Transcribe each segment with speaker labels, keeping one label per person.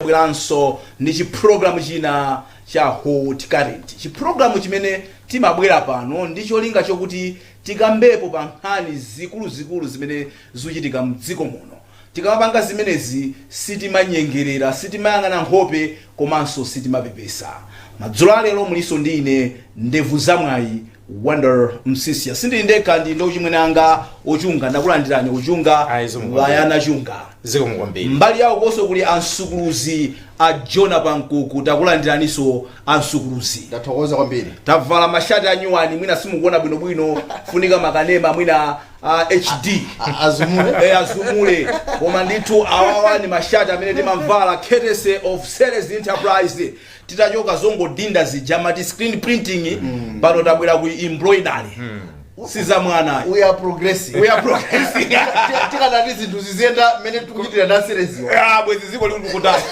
Speaker 1: tabweranso ndi chi program china cha hot current. Chi program chimene timabwera pano ndi cholinga chokuti tikambepo pa nkhani zikuluzikulu zimene zikuchitika mdziko muno. Tikamapanga zimenezi sitimanyengerera, sitimayang'ana nkhope komanso sitimapepesa. Madzulo a lero mulinso ndi ine Ndevu Za Mwayi Wonder Msisya sindili ndekha ndili ndi ochimwene anga ochunga ndakulandirani ochunga Ayi, zikomo kwambiri. Iyana chunga zikomo kwambiri
Speaker 2: mbali yawo konso kuli
Speaker 1: ansukuluzi a jona pankuku takulandiraniso ansukuluzi ndathokoza
Speaker 3: kwambiri tavala
Speaker 1: mashati anyuwani mwina simukuona bwinobwino ifunika makanema mwina uh, hd A-
Speaker 3: azumule Eh, azumule
Speaker 1: koma ndithu awawa ni mashati amene timamvala courtesy of Ceres enterprise titachoka zongodinda zija amati screen printing pano tabwera ku embroidery si za mwana ayi. we are progressing
Speaker 3: we are progressing Ti- tikadati zinthu ziziyenda mmene tikuchitira ndi Ceres-yo Ah, bwezi dziko
Speaker 1: lili kutali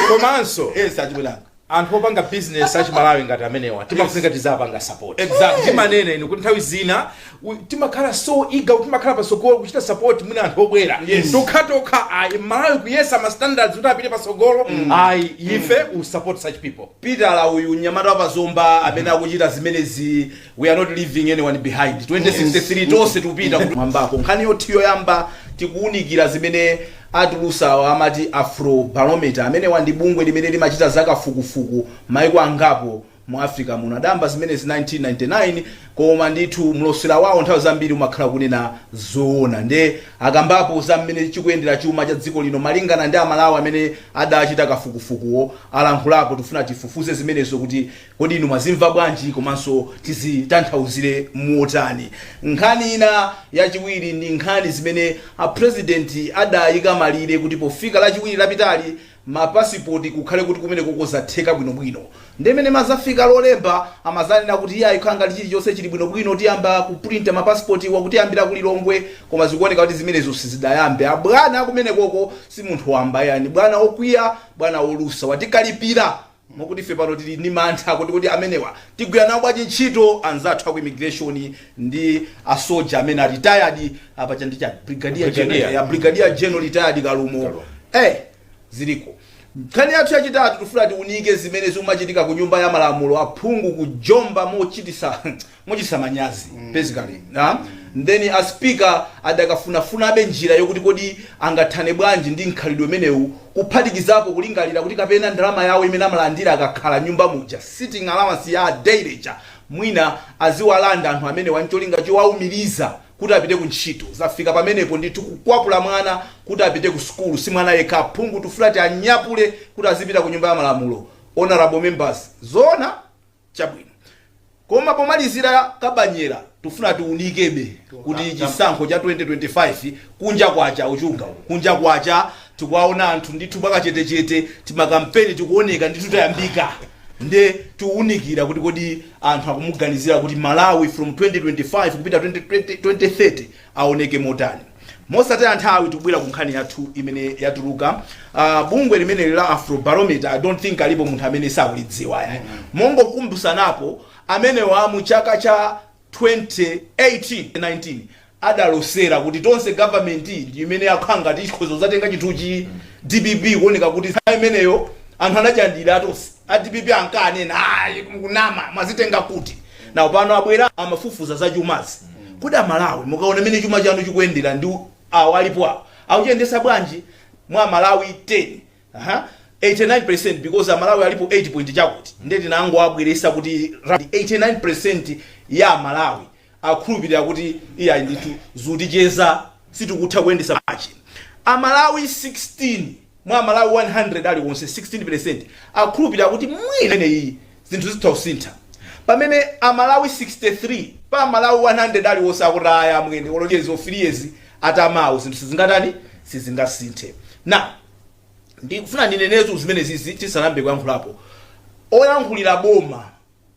Speaker 2: komanso yes
Speaker 1: achibwelanga anthu opanga
Speaker 2: business achimalawi ngati amenewa timafunika tizapanga support Exactly. timanene inu
Speaker 1: kuti nthawi
Speaker 2: zina u timakhala so eager kuti timakhala patsogolo kuchita support mwina anthu obwera Yes. tokhatokha ayi malawi kuyesa ma standards kuti apite patsogolo ayi ife we support such people pitala uyu mnyamata
Speaker 1: wa pazomba amene akuchita zimenezi we are not leaving anyone behind 2063 tonse tikupita kumwambako nkhani yathu yoyamba tikuwunikira zimene atulusawa amati afro barometer amenewa ndi bungwe limene limachita zakafukufuku maiko angapo Mu Africa muno adayamba zimenezi 1999 koma ndithu mlosera wawo nthawi zambiri umakhala kunena zoona nde akambapo za mmene chikuyendera chuma cha dziko lino malingana ndi amalawi amene adachita kafukufukuwo alankhulapo tikufuna tifufuze zimenezo kuti kodi inu mwazimva bwanji komanso tizitanthauzire motani. Nkhani ina yachiwiri ndi nkhani imene a president adayika malire kuti pofika lachiwiri lapitali ma pasipoti kukhale kuti kumenekoko zatheka bwinobwino nde mene imadzafika lolemba amadzanena kuti iyayi kukhala ngati chilichonse chili bwinobwino tiyamba kupulinta ma pasipotiwa kuyambira ku Lilongwe koma zikuoneka kuti zimenezo sizidayambe abwana akumenekoko si munthu wamba ayi bwana okwiya bwana olusa watikalipira Mokuti ife pano tili ndi mantha kuti amenewa tigwira nawo bwanji ntchito anzathu aku immigration ndi a soldier amene a retired a paja ndi chani? Brigadier general Brigadier. ya brigadier general retired kalumo Kalumo. eh ziliko nkhani yathu yachitatu tifuna tiunike zimene zikumachitika ku nyumba ya malamulo aphungu kujomba mochitisa mochititsa manyazi basically ah, then a speaker adakafunafunabe njira yokuti kodi angathane bwanji ndi mkhalidwe umenewu kuphatikizapo kulingalira kuti kapena ndalama yawo imene amalandira akakhala m'nyumba muja sitting allowance ya daily ja mwina aziwalanda anthu amenewa n'cholinga chowaumiriza kuti apite ku ntchito zafika pamenepo ndithu kukwapula mwana kuti apite ku sukulu si mwana yekha aphungu tufulati anyapule kuti azipita ku nyumba ya malamulo honorable members zoona Chabwino. Koma pomalizira Kabanyera tikufuna tiunikebe kuti chisankho cha 2025 kunja kwacha Chunga uku. Kunja kwacha tikuwaona anthu ndithu mwakachetechete timakampeni tikuoneka ndithu tayambika. Nde tiunikira kuti kodi anthu akumuganizira kuti Malawi from 2025 kupita 20, 20, 2030 awoneke motani. Mosataya nthawi tikubwera ku nkhani yathu imene yatuluka. Uh, bungwe limeneli la Afrobarometer I don't think alipo munthu amene sakulidziwa yayi. Mm -hmm. Mongokumbutsanapo amenewa mu chaka cha 2018-19 adalosera kuti tonse government ndi imene yakhala ngati ikhoza kudzatenga chinthuchi DPP kuoneka kuti nthawi imeneyo anthu anachilandira tonse A dpp ankanena ayi mukunama mwazitenga kuti? Now pano abwera amafufuza za chumazi. Kodi a Malawi mukaona mmene chuma chanu chikuyendera ndi awa alipo awa akuchiyendetsa bwanji? Mwa a Malawi 10, aha, 89% because a Malawi alipo 8 point chakuti nde tingowabweretsa kuti 89% ya a Malawi. akhulupilira kuti iyayi ndithu zikuticheza sitikutha kuyendetsa machi. A Malawi 16 mwa a Malawi 100 aliwonse, 16 pelesenti, akhulupilira kuti mwina imeneyiyi zinthu zitha kusintha pamene a Malawi 63 pa a Malawi 100 aliwonse akuti ayi amwene olo 10 years or 3 years atamawo zinthu sizingatani sizingasinthe. Now ndikufuna ndineneretu zimenezizi tisanayambe kuyankhulapo. Oyankhulira boma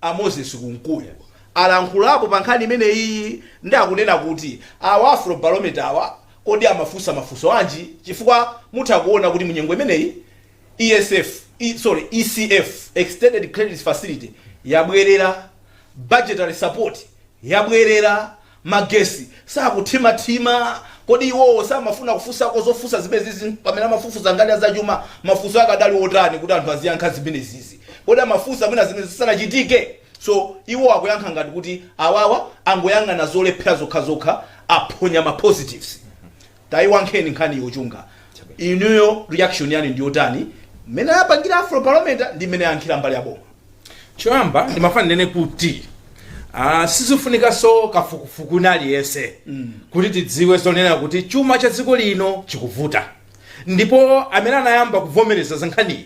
Speaker 1: A Moses Kunkuyu alankhulapo pa nkhani imeneyiyi nde akunena kuti awa afro barometer awa kodi amafunsa mafunso anji chifukwa mutha kuona kuti munyengo imeneyi ESF E sorry ECF Extended Credit Facility yabwerera, Budgetary Support yabwerera, magesi sakuthimathima kodi iwowo samafuna kufunsako zofunsa zimenezizi pamene amafufuza ngati a zachuma mafunso akadali otani kuti anthu aziyankha zimenezizi kodi amafunsa mwina zimenezi zisanachitike so iwo akuyankha ngati kuti awawa angoyang'ana zolephera zokhazokha aphonya ma positives Taiyankheni nkhaniyo Chunga inuyo reaction yanu ndiyotani mmene apangira afro barometer ndi mmene yayankhira mbali ya boma? Choyamba
Speaker 2: ndimafuna ndinene kuti uh, sizifunikanso kafukufuku wina aliyense mm. kuti tidziwe zonena kuti chuma cha dziko lino chikuvuta ndipo amene anayamba kuvomereza za nkhaniyi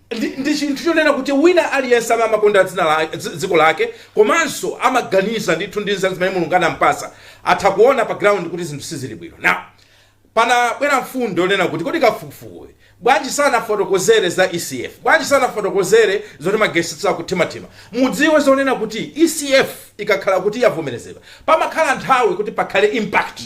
Speaker 2: Ndi, ndi chinthu chonena kuti wina aliyense amene amakonda dzina la dzi- dziko lake komanso amaganiza ndithu ndi nzeru zimene mulungu anampasa atha kuona pa ground kuti zinthu sizili bwino now panabwera mfundo yonena kuti kodi kafukufukuyi bwanji sanafotokozere za ecf bwanji sanafotokozere zoti magesi sakuthimathima mudziwe zonena kuti ecf ikakhala kuti yavomerezedwa pamakhala nthawi kuti pakhale impact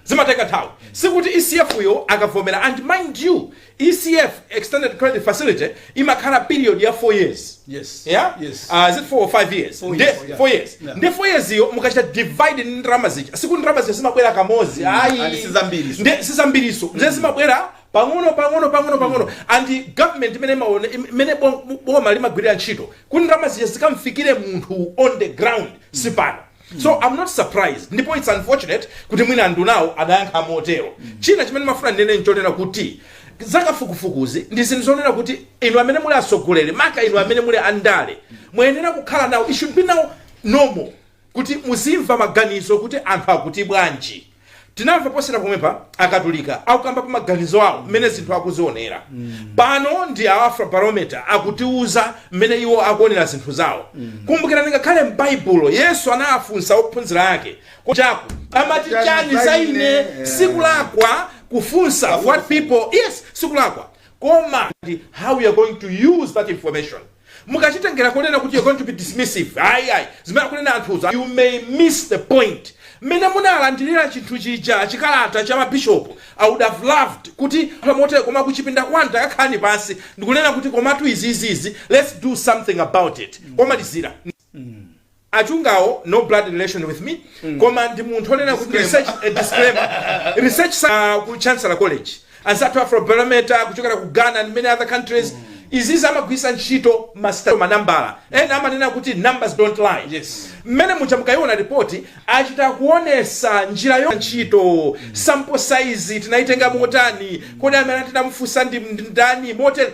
Speaker 2: zimatenga nthawi sikuti ecf yo akavomera and mind you ECF, Extended Credit Facility, imakhala period ya 4 years. Yes.
Speaker 1: Yeah? Yes. Uh, is
Speaker 2: it 4 or 5 years? Four Nde- years, yeah. 4 years. Yeah.
Speaker 1: Nde 4
Speaker 2: years iyo
Speaker 1: mukachita
Speaker 2: divide ndi ndalama zija. Siku ndalama zija zimabwera kamodzi. Ayi. and
Speaker 1: sizambiriso. Nde
Speaker 2: sizambiriso. Nde zimabwera pang'ono pang'ono pang'ono pang'ono and government mmene imaone mmene bom- boma limagwirira ntchito kuti ndalama zija zikamfikire munthu on the ground sipano so i'm not surprised ndipo it's unfortunate kuti mwina andunawo adayankha motero china chimene mafuna ndinene nchonena kuti zakafukufukuzi ndi zinthu zonena kuti inu amene muli atsogoleri maka inu amene muli andale muyenera kukhala nawo it should be now normal kuti muzimva maganizo kuti anthu akuti bwanji tinamva posera pomwepa akatolika akukambapo maganizo awo mmene zinthu akuzionera pano ndi a afrobarometer akutiuza mmene iwo akuonera zinthu zawo kumbukirani ngakhale m'baibulo yesu anafunsa ophunzira ake kuchako amati chani za ine sikulakwa kufunsa what people yes sikulakwa koma how we are going to use that information Mukachitengera kunena kuti you're going to be dismissive ayi ayi zimene akunena anthuzo you may miss the point. Mmene munalandilira chinthu chija chikalata cha ma bishop I would have loved kuti motere koma kuchipinda kwanu takakhalani pansi ndikunena kuti komatu izizi izi let's do something about it komalizira. achungawo no blood relation with me koma ndi munthu onena kuti research a disclaimer research sa ku chancellor college anzathu afrobarometer kuchokera ku ghana and many other countries izizi amagwisa ntchito masitato manambala ena amanena kuti numbers don't lie Yes. mmene
Speaker 1: muja
Speaker 2: mukayiona ripoti achita kuonesa njira yo ntchito sample size tinayitenga motani kodi amene tinamufunsa ndi ndi ndani motere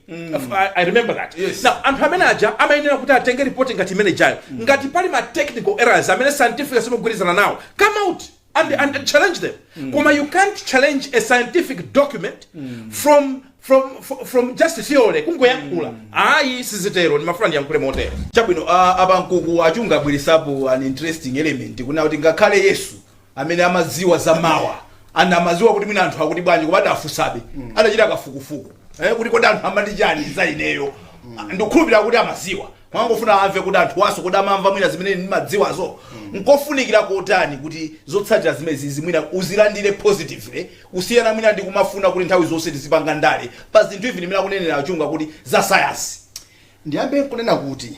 Speaker 2: F- I, I remember that Yes. now anthu amene aja amayenera kuti atenge ripoti ngati imene jayo ngati pali ma technical errors amene scientific simukugwirizana nawo come out and, and challenge them koma you can't challenge a scientific document from from fro- from just theory kungoyankhula ayi sizitero ndimafuna ndiyankhule motere chabwino a-
Speaker 1: abankuku achunga abweresapo an interesting element kunena kuti ngakhale yesu amene amadziwa za mawa and amadziwa kuti mwina anthu akuti bwanji koma adafunsabe adachita kafukufuku eh, kuti kodi anthu amati chani za ineyo ndikukhulupirira kuti amadziwa mwangofuna amve kuti anthuwanso kuti amamva mwina zimene ndimadziwazo nkofunikira kotani kuti zotsatira zimenezizi mwina uzilandire positively kusiyana mwina ndi kumafuna kuti nthawi zonse tizipanga ndale pa zinthu izi ndi mmene akunenera achunga kuti za sayansi ndiyambe
Speaker 3: nkunena kuti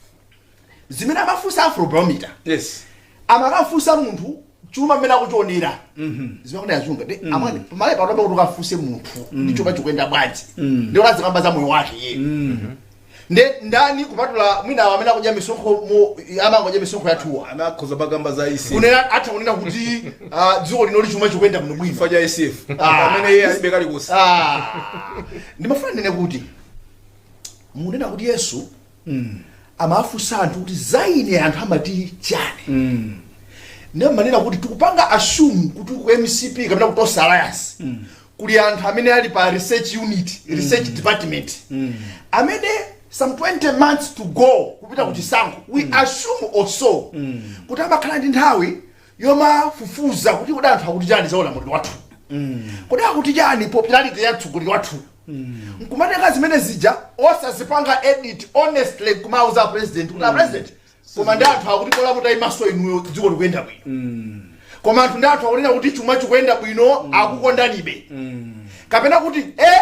Speaker 3: zimene amafunsa afrobarometer
Speaker 1: yes
Speaker 3: amakafunsa munthu chuma mmene akuchionera zimakuti azunga ndi amwene pamale pano pamene ukafunsa munthu kuti chuma chikuyenda bwanji ndiye azikamba za moyo wake iye ndi ndani kupatula mwina awo amene akudya misonkho mu- amangodya misonkho yathuwa amakhoza pokamba
Speaker 1: za ECF kunena atha kunena
Speaker 3: kuti ah, dziko lino lichuma chikuyenda bwino bwino chifukwa cha ECF Ah.
Speaker 1: amene iye alibe kalikonse Ah.
Speaker 3: ndimafuna ndinene kuti munena kuti yesu amawafunsa anthu kuti za ine anthu amati chani ndiye mmanena kuti tikupanga assume kuti ku mcp kapena ku tonse alliance kuli anthu amene ali pa research unit research department amene some 20 months to go kupita ku chisankho we assume also kuti amakhala ndi nthawi yomafufuza kuti kodi anthu akuti chani za ulamuliro wathuwu, kodi akuti chani popularity ya mtsogoleri wathuyu, nkumatenga zimene zija osazipanga edit honestly nkumauza apresident kuti apresident koma ndi anthu akuti bola mutayimanso inuyo dziko likuyenda bwino koma anthu ndi anthu akunena kuti chuma chikuyenda bwino akukondanibe kapena kuti eh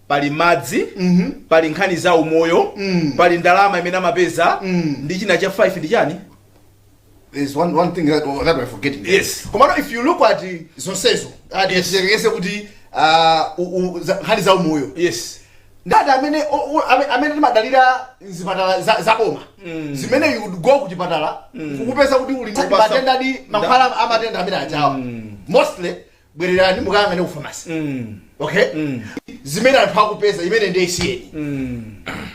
Speaker 1: pali madzi pali nkhani za umoyo pali ndalama imene amapeza ndi china cha 5 ndi chani There's
Speaker 3: one, one thing that, that we're forgetting. Yes. Komano, if you
Speaker 1: look at
Speaker 3: uh, zonsezo, uh, Yes. tiyerekeze kuti uh, u- u- za- nkhani za umoyo yes
Speaker 1: anthu
Speaker 3: amene o- o- ame- amene timadalira zipatala za- za boma zimene you would go ku chipatala kukupeza kuti uli ndi Kupasa- matenda ndi mankhwala a matenda amenewa atha mostly bwererani mukayang'ane ku famasi Mm. okay Mm. zimene anthu akupeza imene ndiye issue Mm.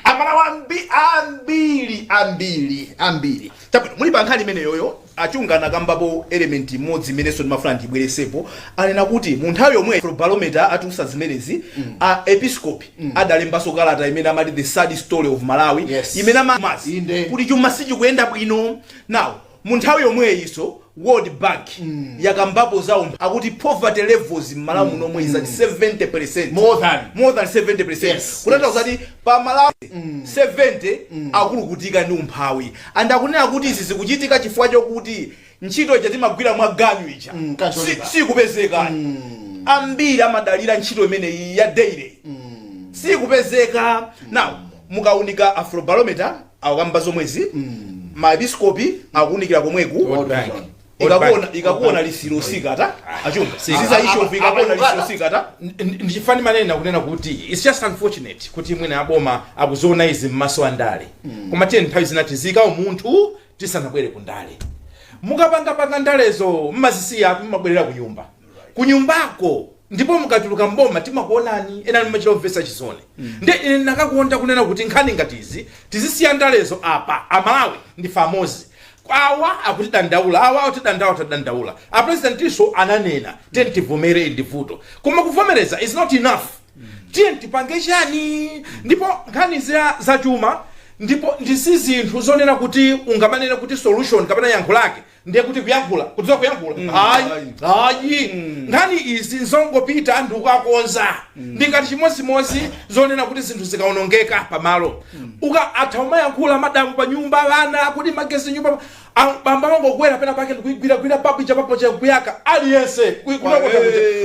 Speaker 3: amalawi ambi- ambiri ambiri ambiri chabwino muli pa nkhani
Speaker 1: imeneyoyo achunga anakambapo element imodzi imenenso ndimafuna ndibweretsepo anena kuti mu nthawi yomwe barometer atiuza zimenezi a episcopi adalembanso kalata imene amati the sad story of malawi Yes. imene ama- Inde. kuti chuma sichikuyenda bwino nawo Mu nthawi yomweyinso world bank yakambapo za umphawi akuti poverty levels mmalawi muno omwe is at 70 percent More than. more than 70 percent Yes, kutanthauza kuti amalawi 70 akulukutika ndi umphawi and akunena kuti izi zikuchitika chifukwa chokuti ntchito ija timagwira mwa ganyu ija Mm, casual Si- labour. sikupezeka ambiri amadalira ntchito imeneyi ya daily sikupezeka now mukaunika afrobarometer akukamba zomwezi maepiskopi akuunikira komweku World Bank. ikakuona World Bank. ikakuona lisilo sikata achunga Sika. siza Apa- Afrobarometer akukambazo ikakuona apa- lisilo sikata ndi chifukwa ndimanena
Speaker 2: kunena kuti it's just unfortunate kuti mwina aboma akuziona izi m'maso andale koma tiyeni nthawi zina tiziika umunthu tisanabwere ku ndale mukapangapanga ndalezo mmazisiya mmabwerera ku nyumba kunyumbako ndipo mukatuluka mboma timakuonani ena mumachita kumvesa chisoni nde ine ndinakakonda kunena kuti nkhani ngati izi tizisiya ndalezo apa amalawi ndi amodzi awa akutidandaula awa akutidandaula tadandaula aprezidentinso ananena tiyeni tivomere ndi vuto koma kuvomereza is not enough tiyeni tipange chani ndipo nkhani zachuma ndipo si zinthu zonena kuti ungamanene kuti solution kapena yankho lake ndiye kuti kuyankhula kudziwa kuyankhula mm. ayi ayi mm. nkhani izi nzongopita anthu kukakonza mm. ndi ngati chimodzimodzi zonena kuti zinthu zikaonongeka pamalo mm. atha kumayankhula madamu pa nyumba ana kuti magesi m'nyumba bambo angokwera pena pake ndikuigwiragwira papita pompo cha kuyaka aliyense kunako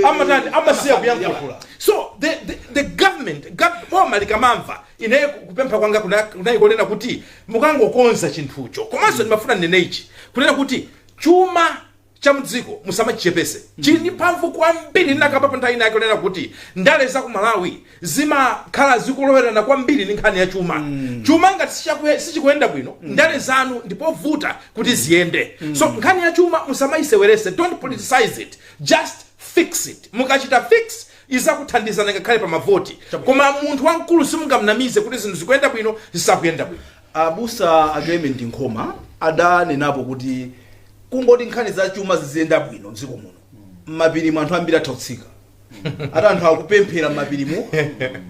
Speaker 2: amatani amasiya kuyankhula so the, the, the government boma likamamva Ine kupempha kwanga kunali konena kuti mukangokonza chinthucho. Komanso ndimafuna ndinene ichi, kunena kuti chuma cha mdziko musamachichepese. Chili ndi mphamvu kwambiri. Ndinakambapo nthawi ina yake kunena kuti ndale za ku Malawi zimakhala zikulowerana kwambiri ndi nkhani ya chuma. Chuma ngati sichikuyenda bwino, ndale zanu ndipovuta kuti ziyende. So nkhani ya chuma musamayisewerese, don't politicize it, just fix it. Mukachita fix, Izakuthandizani ngakhale pa mavoti. Koma munthu wamkulu simungamnamize kuti zinthu zikuyenda bwino, zisakuyenda bwino. Abusa
Speaker 1: a Clement Nkhoma adanenapo kuti kungoti nkhani za chuma ziziyenda bwino m'dziko muno, m'mapirimu anthu ambiri atha kutsika. Ati anthu akupemphera m'mapirimu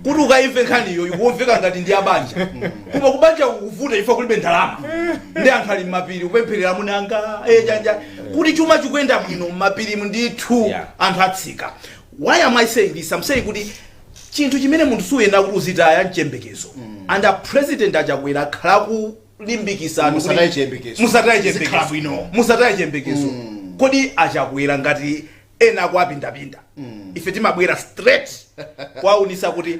Speaker 1: kuti ukaimve nkhaniyo ikumveka ngati ndi ya banja. Koma kubanjako kukuvuta chifukwa kulibe ndalama. Ndiye anthu ali m'mapiri kupempherera amuna anga, eh, chani, kuti chuma chikuyenda bwino m'mapirimu ndithu Yeah. anthu atsika. why am i saying this I'm saying kuti chinthu chimene munthu suyenera kuti uzitaya mchembekezo and a president a Chakwera akhala kulimbikisa kuti- Musataye chiyembekezo.
Speaker 3: musataye Zikhala chiyembekezo
Speaker 1: bwino. musataye chiyembekezo kodi a Chakwera ngati ena akuwapindapinda ife timabwera straight kwaunisa kuti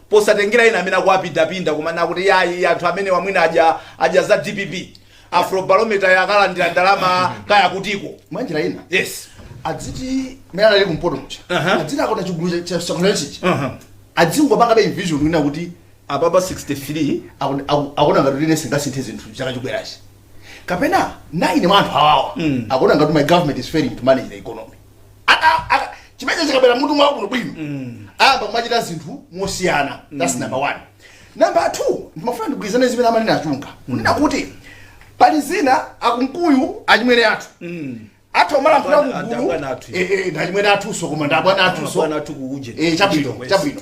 Speaker 1: posatengera ena amene akuwapindapinda kumanena kuti yayi anthu amenewa mwina adya za dpp afrobarometer yakalandira ndalama kaya kutiko mwanjira ina yes
Speaker 3: adziti mene anali kumpoto muja Aha. adziti akona chigulu cha security Aha. adzingopanga television ina kuti apapa
Speaker 1: 63 akona- aku-
Speaker 3: akona ngati line singasinthe zinthu chaka chikubwerachi kapena 9 mwa anthu awa akona ngati my government is failing to manage the economy Aka- aka- chimene chikabwera mmutu mwawo kuno bwino ayambe kumachita zinthu mosiyana that's number one number two ndimafuna ndigwirizane zimene amanena a Chunga kunena kuti pali zina a Kunkuyu achimwene athu athu amalankhula Abwana- kugulu adabwana athu. Eh, eh, ndi achimwene athunso koma ndi abwana athunso Abwana athu kuuje. Eh, chabwino
Speaker 1: Kuchita chabwino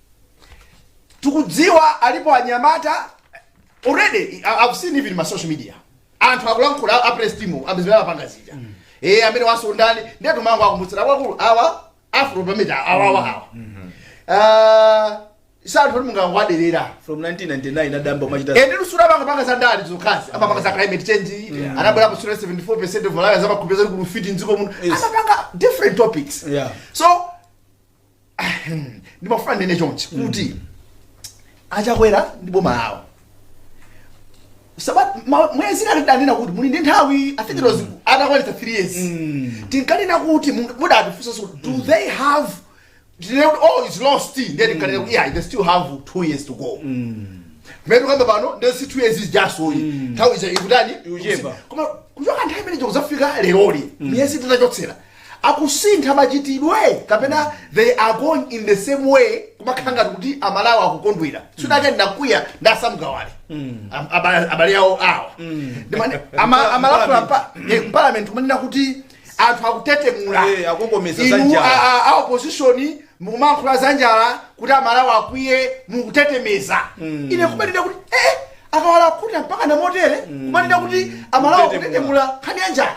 Speaker 3: tikudziwa alipo anyamata already I- I've seen even ma social media anthu akulankhula a press team amene apanga zija eh amene wazonda ndani ndiye timangowakumbutsira kwa akulu awa Afrobarometer awa awa awa ah si anthu kuti mungawaderere
Speaker 1: from 1999 adayamba kumachita ende nso samangopanga
Speaker 3: za ndali zokhazi amapanga za climate change anabwera pa sura 74% of Malawians amakhupeza kuti kulufiti mdziko muno Yes. amapanga different topics Yeah. so ndimafuna ndinene chonchi kuti a Chakwera ndi boma lawo Saba- ma- miyezi inayi tidanena kuti muli ndi nthawi i think it was atakwanitsa three years tinkanena kuti munga- muda atifunsa so do they have tinene kuti oh it's lost ndiye tinkanena kuti yeah they still have two years to go mmene tikukamba pano ndiye si two years is just oyi nthawi ija ikutani Ikuchepa. koma
Speaker 1: kuchoka
Speaker 3: nthawi imene kudzafika leroli miyezi titachotsera akusintha machitidwe kapena they are going in the same way kumakhala ngati kuti Amalawi akukondwera tsiku lina ndinakwiya nda Sam Kawale Am- abale abale awo awa Ndimane- ama- amalankhula mpa- eh, mparliament kumanena kuti anthu akutetemula Eh, akukokomeza za
Speaker 1: Inu, njala. a- a- a opposition
Speaker 3: mukumalankhula za njala kuti Amalawi akwiye mukutetemeza ine kumanena kuti eh a Kawale akhuta mpaka motere kumanena kuti Amalawi Kutetemula. akutetemula nkhani ya njala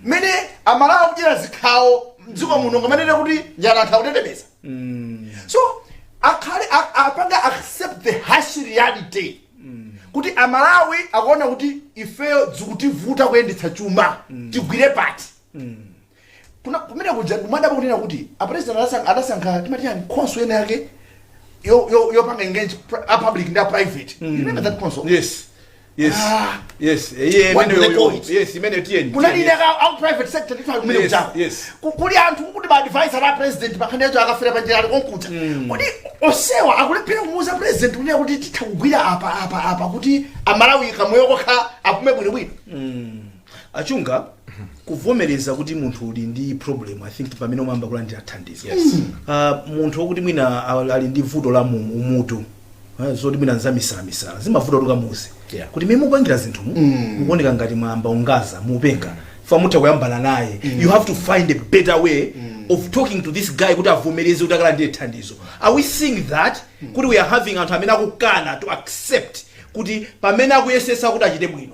Speaker 3: mmene Amalawi akudyera zikhawo mdziko muno nkumanena kuti njala anthu akutetemeza so akhale a- apange accept the harsh reality kuti Amalawi akuona kuti ifeyo zikutivuta kuyendetsa chuma tigwire pati Kuna, kumene kuja ndimadabwa kunena kuti a president anasankha, anasankha team ati chani council inayake yo yo yopanga engage pri- a public ndi a private. You remember that council? yes yes
Speaker 1: Ah. yes Eh, iye What do they imeneyo- call it? yes imeneyo tiyeni Kuna tiyeni. inenso ka a
Speaker 3: private sector ndithu kumene Yes, kuja. yes. Ku- Kuli anthu kuti ma advisor a president pankhani yachuma a Kaferapanjira ali konkuja. Kodi onsewa akulephera kumuuza president kunena kuti titha kugwira apa apa apa kuti Amalawi kamoyo kokha apume bwinobwino.
Speaker 1: a Chunga kuvomereza kuti munthu uli ndi problem i think pamene umayamba kulandira thandizo Yes. uh, munthu wokuti mwina al- ali ndi vuto la mu mutu eh, zoti mwina nzamisalamisala zimavuta kuti ukamuuze Yeah. kuti mmene mukupangira zinthu mukuoneka ngati mwayamba kuzungulira mupenga apa mutha kuyambana naye you have to find a better way of talking to this guy kuti avomereze kuti akalandire thandizo are we seeing that kuti we are having anthu amene akukana to accept kuti pamene akuyesetsa kuti achite bwino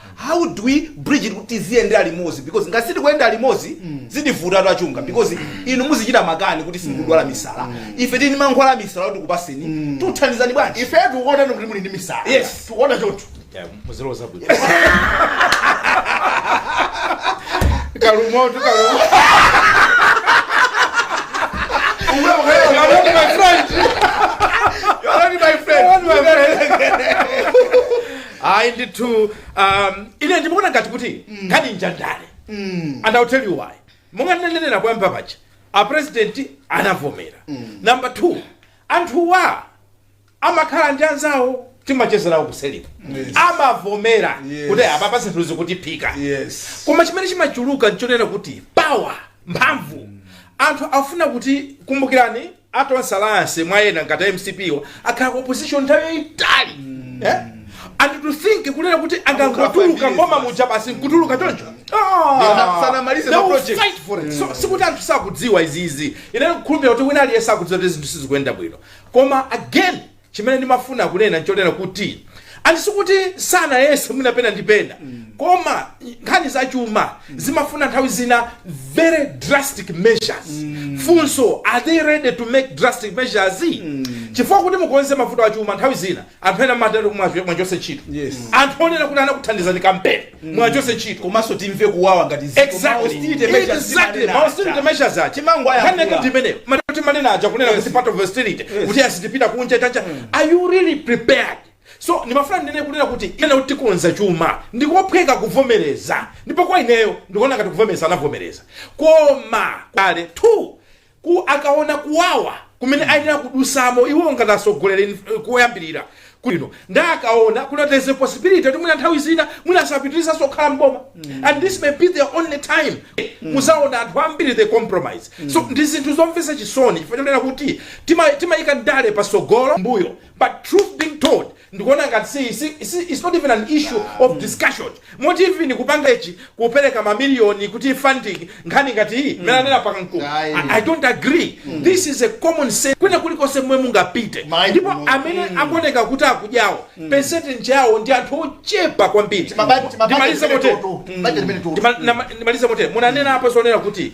Speaker 1: how do we bridge it kuti tiziyendera limodzi because ngati sitikuyenda limodzi zitivutatu achunga because inu muzichita makani kuti simukudwala misala ife tili ndi mankhwala a misala kuti tikupaseni tikuthandizani bwanji ife tikuona kuti muli ndi
Speaker 3: misala Yes. tikuona choncho
Speaker 1: Yeah,
Speaker 3: muziloza
Speaker 2: bwino kalumoto kalumoto ayi ndithu um, ine ndimaona ngati kuti nkhani njandale and I'll tell you why monga ndinanenera poyamba paja a president anavomera number two anthuwa amakhala ndi anzawo timachezerawo kuseliku Yes. amavomera Yes. kuti apa pa zinthu zikutiphika yes koma chimene
Speaker 1: chimachuluka
Speaker 2: nchonena kuti power mphamvu anthu afuna kuti kumbukirani a Tonse Alliance mwa ena ngati a mcp wa akhala ku opposition nthawi yayitali eh? and to think kunena kuti angangotuluka mboma muja basi nkutuluka choncho Ah! Sanamalize They ma will project.
Speaker 1: fight for it. So, sikuti
Speaker 2: anthu sakudziwa izizi ine ndikukhulupirira kuti wina aliyense akudziwa kuti zinthu sizikuyenda bwino koma again Chimene ndimafuna kunena nchonena kuti anthu sikuti sanayese mwina pena ndi pena koma nkhani za chuma zimafuna nthawi zina very drastic measures funso are they ready to make drastic measures chifukwa kuti mukonze mavuto a chuma nthawi zina anthu ena mayenera muwachose ntchito Yes. anthu onena kuti anakuthandizani kampeni muwachose ntchito komanso timve
Speaker 1: kuwawa ngati ziko. Exactly. Ma austerity measures
Speaker 2: Exactly. timanena Ma austerity aja. measures aja. Chimango aya Nkhani yake kula. ndi
Speaker 1: imeneyo. Mati
Speaker 2: timanena aja kunena kuti part of austerity kuti sitipita kunja tacha are you really prepared so ndimafuna ndinene kunena kuti kunena kuti tikonza chuma ndikophweka kuvomereza ndipo kwa ineyo ndikuona ngati kuvomereza anavomereza koma kale two ku akaona kuwawa kumene ayenera kudusamo iwo ngati atsogoleri in- koyambirira kuno nda akaona kuti there's a possibility kuti mwina nthawi zina mwina asapitirizaso kukhala mboma and this may be their only time muzaona anthu ambiri they compromise so ndi zinthu zomvetsa chisoni chifukwa chonena kuti tima- timayika ndale pasogolo mbuyo but truth being told ndikuona ngati si si it's not even an issue of discussion moti even kupanga ichi kupereka ma million kuti funding nkhani ngati iyi mmene anena apa akamkulu Ayi. I- i don't agree this is a common sense kwina kulikonse momwe mungapite Mind ndipo blowing. amene akuoneka kuti akudyawo percentage yawo ndi anthu ochepa kwambiri Timaba- timaba- ndimalize timene motere toto. Timaba- timene toto. Ndima- nama- ndimalize motere munanena apo zonena kuti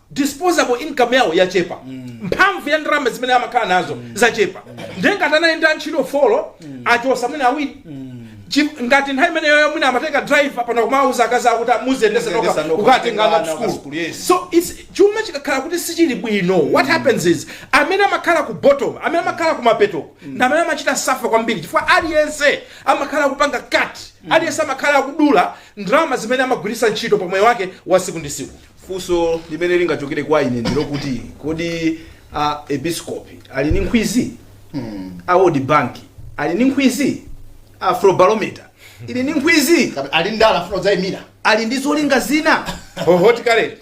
Speaker 2: disposable income yawo yachepa mphamvu ya ndalama zimene amakhala nazo zachepa ndiye ngati anali ndi antchito folo achotsa mwina awiri Chi- ngati nthawi imeneyo mwina amatenga driver pano kumauza akazi akuti muziyendetsa Muziyendetsa nokha nokha, kukatenga ana ana ku ku school, yes. so it's chuma chikakhala kuti sichili bwino what happens is amene amakhala ku bottom amene amakhala ku mapeto ndi amene amachita safa kwambiri chifukwa aliyense amakhala kupanga cut aliyense amakhala akudula ndalama zimene amagwiritsa ntchito pa moyo wake wa tsiku ndi tsiku Funso
Speaker 1: limene lingachokere kwa ine ndilokuti kodi a episkopi ali ndi nkhwizi a world bank ali ndi nkhwizi afrobarometer ili ndi nkhwizi Kapena ali ndala
Speaker 3: afuna kudzayimira ali ndi
Speaker 1: zolinga zina hot current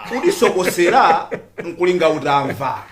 Speaker 2: kutisokosera
Speaker 1: nkulinga utamva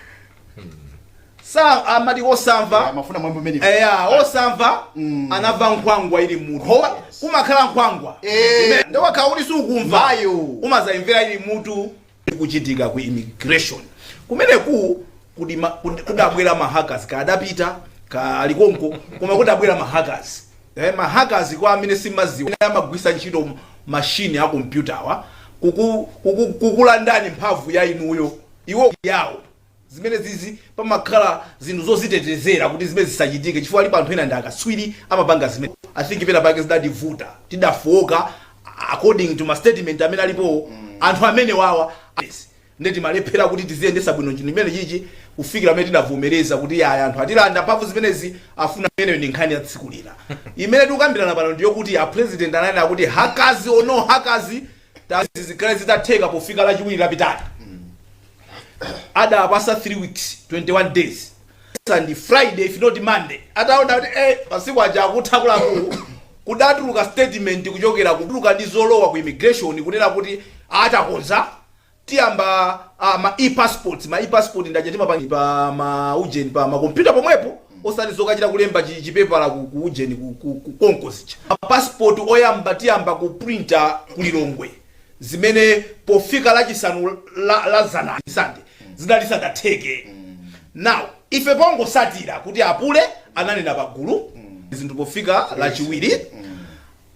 Speaker 1: sa amati osamva Eh, amafuna mwambi umenewu.
Speaker 3: eya
Speaker 1: osamva anamva nkhwangwa ili mmutu Koma- kumakhala nkhwangwa Eh. Imene- nde wakhala kuti sukumva Mayo. umadzayimvera ili mmutu zikuchitika ku immigration kumeneku kudi ma- kudi- kudabwera mahackers kadapita kalikonko koma kudabwera mahackers eh, mahackers kwa amene simudziwa Amene amagwiritsa ntchito m- mashini a kompyutawa kuku- kuku- kukulandani mphamvu ya inuyo iwo yawo Zimenezizi pamakhala zinthu zozitetezera kuti zimene zisachitike chifukwa alipo anthu ena ndi akatswiri amapanga zimene I think pena pake zidativuta tidafooka according to ma statement amene alipowa anthu amenewawa nde timalephera kuti tiziyendetsa bwino chinthu chimene chichi kufikira pamene tidavomereza kuti yaya anthu atilanda mphamvu zimenezi afuna imeneyo ndi nkhani ya tsiku lina imene tikukambirana pano ndiyokuti a president ananena kuti hackers or no hackers tazi zikhale zitatheka pofika lachiwiri lapitali adapatsa 3 weeks 21 days and friday if not monday ataona kuti eh, masiku aja akutha kudatuluka statement kuchokera kutuluka ndi zolowa ku immigration kunena kuti atakonza tiyamba ah, ma e-passport ma e-passport ndi aja timapanga pa ma ujeni pa ma computer pomwepo osati zokachita kulemba chi- chipepala ku, ku ujeni ku, ku, ku konko zija ma passport oyamba tiyamba kuprinta ku Lilongwe zimene pofika lachisanu la, la dzana sande zidali sadatheke now ife pongotsatira kuti apule ananena pagulu zinthu pofika lachiwiri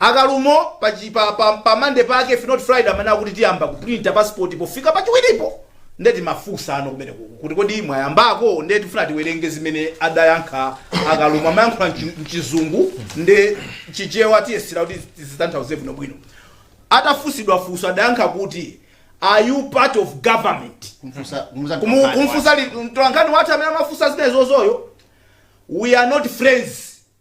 Speaker 1: A Kalumo pa chi pa pa pa Monday pake if not Friday amanena kuti tiyamba kuprinta passport pofika pachiwiripo nde timafunsano kumeneku kuti kodi mwayambako nde tifuna tiwerenge zimene adayankha a Kalumo amayankhula mchi- mchizungu nde chichewa tiyesera kuti tizitanthauze bwinobwino atafunsidwa funso adayankha kuti are you part of government Kumfusa- kumuza Kumu- mtokani kumfusa li- mtolankhani wathu amene amafunsa zimenezozoyo we are not friends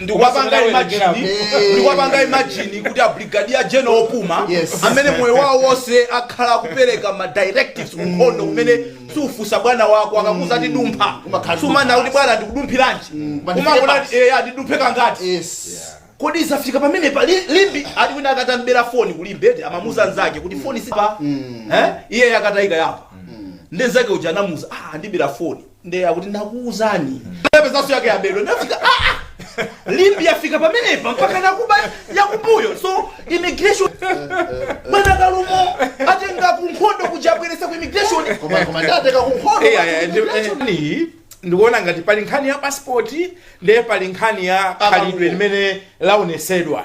Speaker 1: ndikuwapanga imagine ndikuwapanga imagine kuti a brigadier general opuma Yes. amene moyo wawo wonse akhala akupereka ma directives ku nkhondo kumene sufunsa bwana wako akakuuza ati dumpha Umakhala sumanena kuti bwana ndikudumphiranji Koma ndifike umangonena pati. eya ndidumphe kangati yes kodi zafika pamene pa li- limbi ali wina akatamubera foni ku Limbe ati amamuuza nzake kuti foni sipa eh iye yakatayika yapa nde nzake uja anamuuza ah ndibira foni nde akuti nakuuza napezanso yake yabedwa ndafika ah, ah. limbi yafika pamenepa mpaka nakuba yakumbuyo so immigration bwana kalumo atenga kunkhondo kuja abweresa ku immigration koma koma
Speaker 3: ndateka kunkhondo Eh, eh, ndi- eh, ni- ndikuona
Speaker 2: ngati pali nkhani ya pasipoti ndiye pali nkhani ya khalidwe limene laonesedwa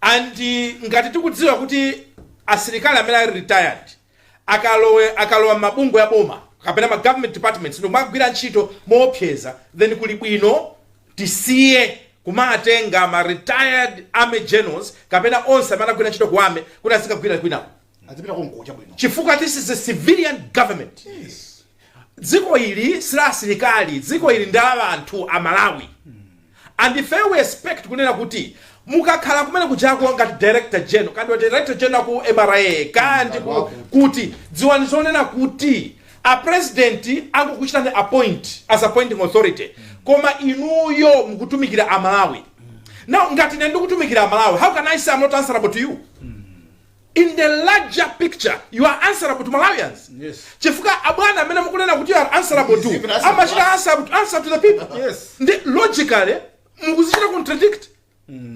Speaker 2: and ngati tikudziwa kuti asilikali amene ali retired akalowa akalowa mabungwe a boma kapena ma government departments ndikumagwira ntchito moopseza then kuli bwino tisiye kumatenga ma retired army generals kapena onse amene anagwira ntchito ku army kuti azikagwira kwinako azipita konko
Speaker 3: chabwino chifukwa this is
Speaker 2: a civilian government dziko ili sila asilikali dziko ili ndi la anthu a malawi and if we expect kunena kuti mukakhala kumene kujako ngati director general kaya ndi director general ku mra kaya ndi kuti dziwani zonena kuti a president angokuchitani appoint as appointing authority koma inuyo mukutumikira a malawi now ngati ine ndikutumikira a malawi how can i say i'm not answerable to you in the larger picture you are answerable to malawians Yes.
Speaker 1: chifukwa
Speaker 2: abwana amene mukunena kuti you are answerable to Is even answerable amachita to us. answerable to, answer to the people Yes. nde
Speaker 1: logically
Speaker 2: mukuzichita contradict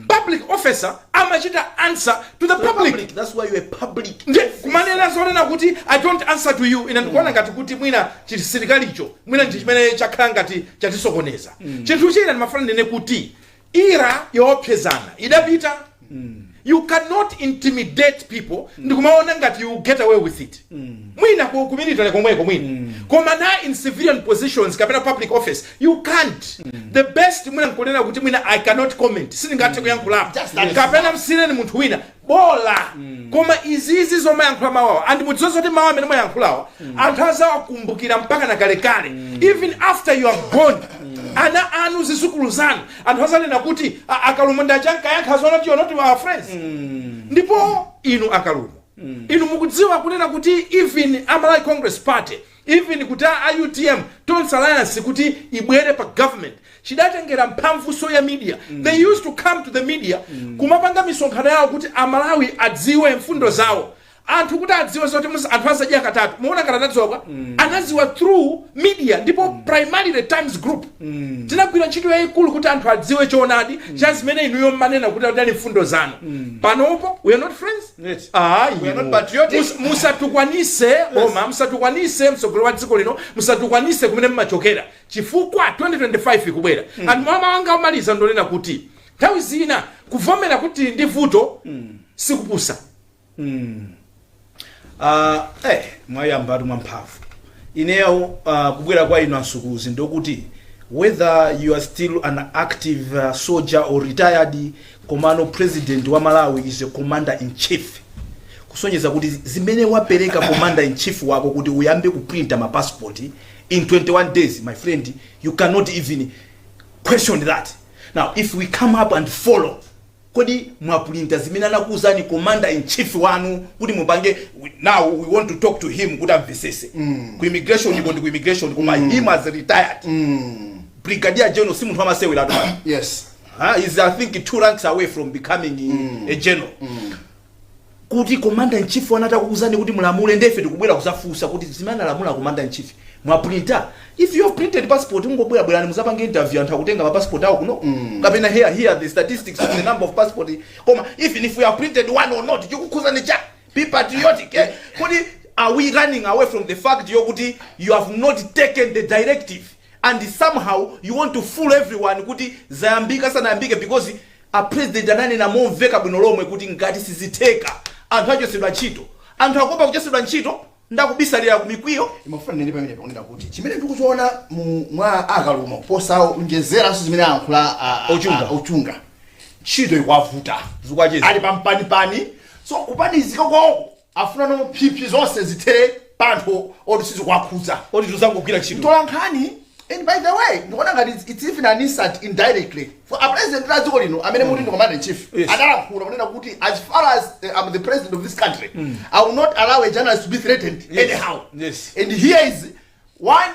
Speaker 2: public officer amachita answer to the public Public, that's why you're a
Speaker 1: public. nde kumanena
Speaker 2: zonena kuti i don't answer to you ine ndikuona ngati kuti mwina chisilikalicho mwina ndi chimene chakhala ngati chatisokoneza chinthu china ndimafuna ndinene kuti era yoopsezana idapita you cannot intimidate people ndikumaona ngati you get away with it mwina ku ku military komweko mwina koma not in civilian positions kapena public office you can't the best mwina nkunena kuti mwina i cannot comment sindingathe kuyankhulapo Just that is kapena msiyireni munthu wina bola koma izizi zomayankhula mawu awa and mudziwe zoti mawu amene mwayankhulawa anthu azawakumbukira mpaka na kalekale even after you are gone ana anu zizukulu zanu anthu azanena kuti a kalumo nda ankayankha zonena kuti not our friends ndipo inu a kalumo inu mukudziwa kunena kuti even a malawi congress party Even kuti UTM tonse alliance kuti ibwere pa government chidatengera mphamvu ya media. They used to come to the media kumapanga misonkhano yawo kuti a Malawi adziwe mfundo zawo. Anthu kuti adziwe zoti mus- anthu azidya katatu. Muona ngati anadziwa kwa? Anadziwa through media ndipo primarily Times Group. Tinagwira ntchito yayikulu kuti anthu adziwe choonadi cha zimene inuyo mmanena kuti adali mfundo zanu. Panopo we are not friends. Eti. Ayi, We
Speaker 1: are
Speaker 2: not patriotic. mus- musatukwanise boma musatukwanise msogoleri wa dziko lino musatukwanise kumene mmachokera chifukwa 2025 ikubwera and mawu anga omaliza ndonena kuti nthawi zina kuvomera kuti tili ndi vuto
Speaker 1: sikupusa Ah, eh, mwayamba atu mwamphamvu ineyo ah, kubwera kwa inu ansukuzi ndokuti whether you are still an active uh, soldier or retired Komano president wa Malawi is a commander in chief kusonyeza kuti zimene wapereka commander in chief wako kuti uyambe kuprinta ma passport in 21 days my friend you cannot even question that. Now if we come up and follow kodi mwaprinta zimene anakuuzani commander in chief wanu kuti mupange we- now we want to talk to him kuti amvesese mm. ku immigration uko ndi ku immigration koma mm. him as retired mm. brigadier general si munthu amasewera tu Yes.
Speaker 3: Ah, he's I
Speaker 1: think two ranks away from becoming a general kuti commander in chief wanu atakuuzani kuti mulamule ndefe tikubwera kuzafunsa kuti zimene analamula commander in chief mwaprinta if you have printed passport mungobwera bwerani muzapange interview anthu akutenga mapassport awo kuno kapena here are the statistics of the number of passport koma even if you have printed one or not chikukhuzani cha be patriotic eh? kuti are we running away from the fact yokuti you have not taken the directive and somehow you want to fool everyone kuti zayambika sizinayambike because a president ananena momveka bwino lomwe kuti ngati sizitheka anthu achotsedwe ntchito anthu akuopa kuchotsedwa ntchito ndakubisalira kumikwiyo imafuna nene pamene
Speaker 3: pakunena kuti chimene ndikuchiona mu- mwa a Kalumo posawonjezeranso zimene ayankhula a- a- Achunga. a- achunga ntchito ikuwavuta Zikuwachita. ali
Speaker 1: pampanipani
Speaker 3: so kupanizika kwawoko Afuna kuphiphiritsa zonse zithere pa anthu oti sizikuwakhudza. Oti tuzangogwira
Speaker 1: ntchito. Mtolankhani and
Speaker 3: by the way ndikuona ngati it's it's even an insult indirectly for a president wa dziko lino amene mukuti ndi commander in chief Yes. adalankhula kunena kuti as far as eh, I'm the president of this country I will not allow a journalist to be threatened Yes. anyhow Yes. and here
Speaker 1: is
Speaker 3: one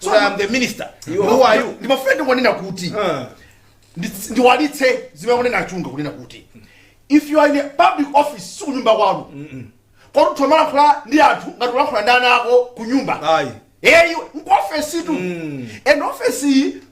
Speaker 1: kuti i am the minister who are you ndimafuna ndinene
Speaker 3: kuti Ah. ndi- ndiwalitse zimene ananena achunga kunena kuti if you are in a public office sikunyumba kwanu koti utha kumalankhula ndi anthu ngati ulankhula ndi ana ako kunyumba Ayi. eyi
Speaker 1: nkuofesi
Speaker 3: tu and ofesi iyi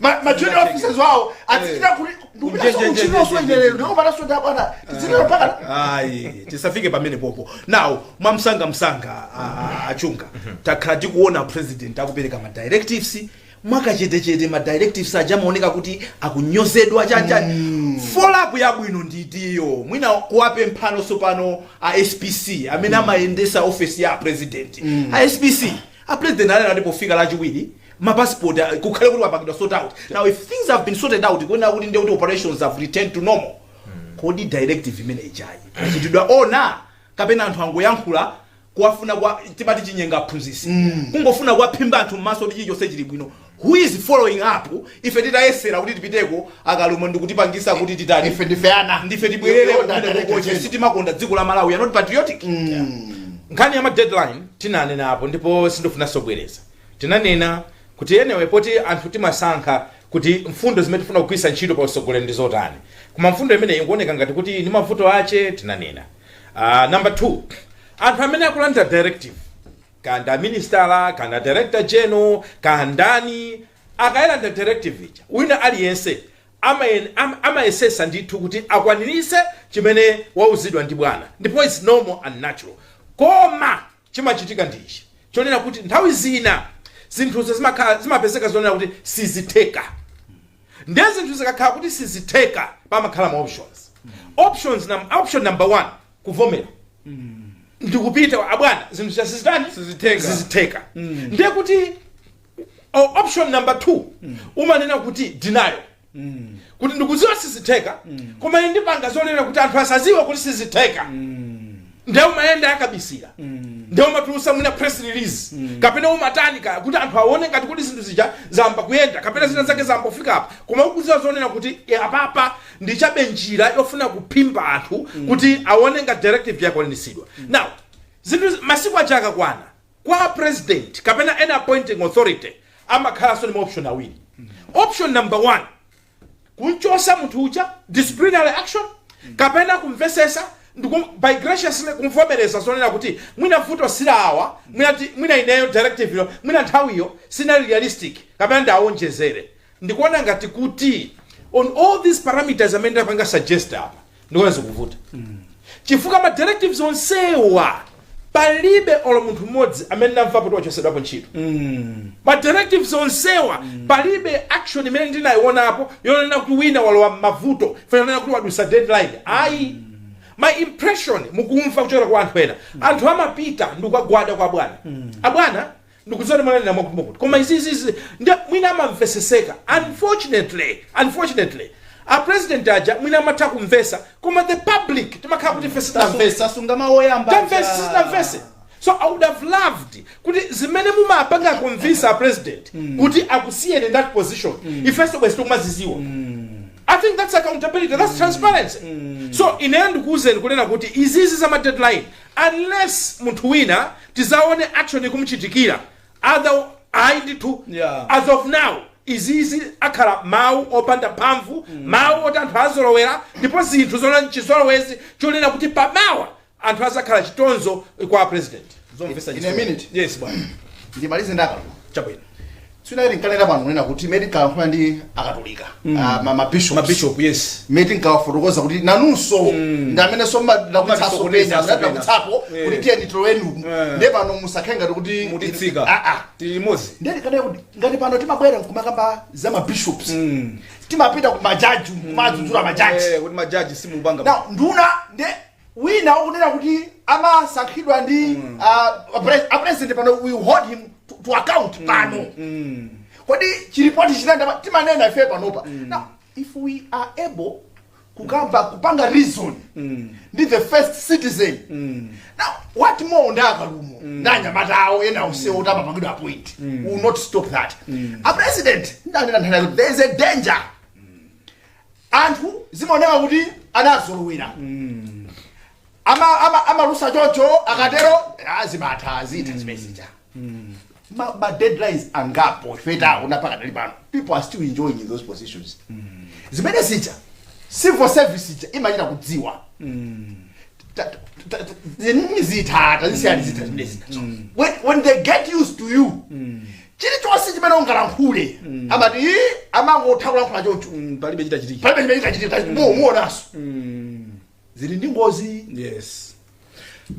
Speaker 1: Ma- ma
Speaker 3: junior officers wawo azichita kuti Njenjenjenjenje. ndikuchinoso ine lero ndipo panasoda bwana
Speaker 1: tizinero mpaka ayi tisafike pamene popo now mwamsangamsanga a- a- achunga takhala tikuona president akupereka ma directives mwakachetechete ma directives aja akumaoneka kuti akunyozedwa chachani follow up yabwino nditiyo mwina kuwapemphano sopano a spc amene amayendesa ofesi ya president a spc a president anati pofika lachiwiri ma passport uh, kukhale kuti wapangidwa sort out now if things have been sorted out kunena kuti nde kuti operations have returned to normal kodi directive imene ija yachitidwa honour kapena anthu angoyankhula kungofuna kwa timati chinyenga aphunzisi kungofuna kuwaphimba anthu mmaso kuti chilichonse chili bwino who is following up ife titayesera kuti tipiteko akarumo ndikutipangisa kuti titani ife ndife ana ndife tibwerere Yo, yo, kumene direct kukoche agenda. sitimakonda dziko la malawi we are not patriotic
Speaker 2: nkhani ya ma deadline tinanena apo ndipo sindifuna sobwereza Tinanena kuti anyway poti anthu timasankha kuti mfundo zimene tifuna kugwiritsa ntchito pa utsogoleri ndi zotani koma mfundo imeneyi ikuoneka ngati kuti ili ndi mavuto ake tinanena uh, number two anthu amene akulandira directive kaya ndi aminisitala kaya ndi director general kaya ndani akayilandira directive ija wina aliyense amayen- am- amayesesa ndithu kuti akwanirise chimene wauzidwa ndi bwana ndipo its normal and natural koma Chimachitika ndi ichi chonena kuti nthawi zina zinthuzo zimakhala zimapezeka zonena kuti sizitheka nde zinthu zikakhala kuti sizitheka pamakhala ma options options nam, option number one kuvomera ndikupita abwana zinthu zija sizitani Sizitheka. sizitheka ndiye kuti o- option number two umanena kuti denial kuti ndikuziwa sizitheka koma ine ndipanga zonena kuti anthu asaziwe kuti sizitheka ndiye umayenda yakabisira ndiye umatulusa mwina press release kapena umatani kaya kuti anthu aone ngati kuti zinthu zija zayamba kuyenda kapena zina zake zayamba kufika apa koma ukuziwa zonena kuti e, apapa ndichabe njira yofuna kuphimba anthu kuti aone ngati directive yakwanitsidwa now zinthu masiku aja akakwana Kwa President kapena any appointing authority amakhalanso ndi ma option awiri. Option number one, kumchosa munthu uja, disciplinary action, kapena kumvesesa ndiku by graciously kumvomereza zonena kuti mwina vuto sila awa, mwina ti mwina ineyo directive yo, mwina nthawiyo sinali realistic kapena ndiawonjezere. ndikuona ngati kuti on all these parameters amene ndapanga suggest apa ndikuona zikuvuta chifukwa ma directives onsewa palibe olo munthu mmodzi amene ndamva kuti wachosedwapo ntchito ma directives onsewa palibe action imene ndinayionapo yonena kuti wina walowa m'mavuto chonena kuti wadusa deadline ayi my impression mukumva kuchokera kwa anthu ena anthu amapita ndikukagwada kwa bwana abwana Ndikuziona kuti mwanena mwakutumba kuti koma izi izi izi nde mwina amamveseseka unfortunately unfortunately a president aja mwina amatha kumvesa koma the public timakhala kuti ife sitinamvese tasunga mawu
Speaker 1: oyamba tamvese aja. sitinamvese
Speaker 2: so i would have loved kuti zimene mumapanga convince a president kuti akusiyeni in that position ifenso bwezi tikumaziziwa i think that's accountability that's transparency so ineyo ndikuwuzeni kunena kuti izizi za ma deadline unless munthu wina tizaone action ikumuchitikira other ayi ndithu Yeah. as of now izizi akhala mawu opanda mphamvu mawu oti anthu azolowera ndipo zinthu zona chizolowezi chonena kuti pamawa anthu azakhala chitonzo kwa president zomvesa in a chisoni. minute
Speaker 3: yes bwana
Speaker 1: ndimalize nda
Speaker 3: Kalumo chabwino
Speaker 1: Sija
Speaker 3: tinkanena pano kunena kuti mmene tinkalankhula ndi akatolika ah, ma- ma bishops. mabishop yes mmene
Speaker 1: tinkawafotokoza
Speaker 3: kuti nanunso ndi amene so ndakutsaso Matisokoneza pena so pena. ndakutsapo Eh. kuti tiyeni tiloweni uku Eh. nde pano musakhale ngati kuti mutitseka Ah,
Speaker 1: ah. tili limodzi nde tikanali
Speaker 3: kuti ngati pano timabwera nkumakamba za mabishops timapita ku majaji kumadzudzula majaji Eh, kuti majaji simupanga
Speaker 1: now nduna
Speaker 3: nde wina ukunenayo kuti amasankhidwa ndi uh, pres- a president pano we hold him to, to account pano kodi chilipo tachisiya nanga timanena ife panopa now if we are able kukamba kupanga reason ndi the first citizen now what more ndi a Kalumo ndi anyamata awo ena onsewo kuti amapangidwa appoint we'll not stop that a president ndanena nthena kuti there is a danger anthu zimaoneka kuti anazolowera ama ama amalusa chocho akatero ah, zimatha izi zitha zimezija ma, ma deadlines angapo ife taona pakadali pano people are still enjoying those positions zimenezija civil service ija imachita kudziwa zitha tazisiyani zitha zimene zinazo when, when they get used to you chilichonse chimene ungalankhule amati "Ih, amangotha kulankhula chocho Mm, palibe chitachitike palibe
Speaker 1: chimene
Speaker 3: chikachitike muonanso zili ndi ngozi
Speaker 1: yes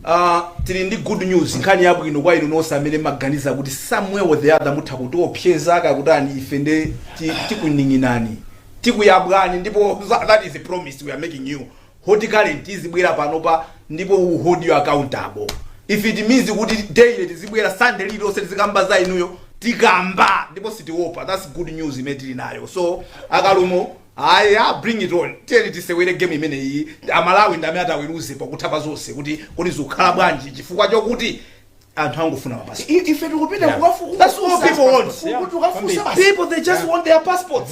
Speaker 1: Uh, tili ndi good news nkhani yabwino kwa inu nonse amene mumaganiza kuti somewhere or the other mutha kutiopseza kaya kutani ife nde ti- tikuning'inani tikuyabwani ndipo za- that is a promise we are making you Hot Current izibwera panopa ndipo we'll hold you accountable if it means kuti daily tizibwera sunday lililonse tizikamba za inuyo tikamba ndipo sitiopa that's good news imene tili nayo so a Kalumo haya bring it on tiyeni tisewere game imene iyi amalawi ndi amene ataweruze pakutha pa zonse kuti kodi zikukhala bwanji chifukwa chokuti anthu angofuna mapasi I- ife tikupita Yeah.
Speaker 3: kuwafu- That's all kuwafunsa- people want.
Speaker 1: ku- ku- tukafunsa basi. people they just want their passports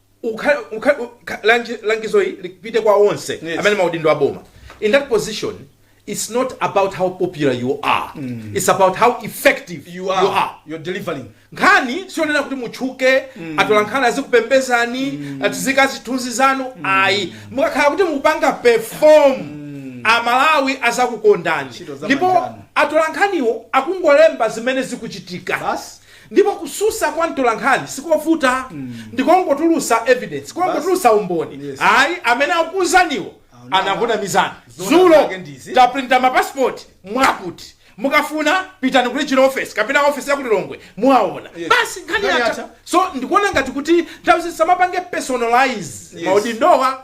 Speaker 2: ukha- ukha- ukha- langi- langizo ili lipite kwa onse Yes. amene maudindo aboma in that position it's not about how popular you are it's about how effective you are, you are. you're delivering
Speaker 1: nkhani sionena
Speaker 2: kuti mutchuke atola nkhani azikupembezani atiziika zithunzi zanu ayi mukakhala kuti mukupanga perform amalawi azakukondani Ntchito za ndipo manjanu. atola nkhaniwo akungolemba zimene zikuchitika Basi. Ndipo kususa kwa mtolankhani sikovuta ndikungotulusa evidence kungotulusa umboni Yes. ayi amene akukuuzaniwo Aona. anakunamizani Zoona zulo zake ndizi. taprinta ma passport mwakuti mukufuna pitani ku regional office kapena office ya ku Lilongwe muwaona Yes. basi nkhani Nkhani yatha yatha. so ndikuona ngati kuti nthawi zi samapange personalize Yes. maudindowa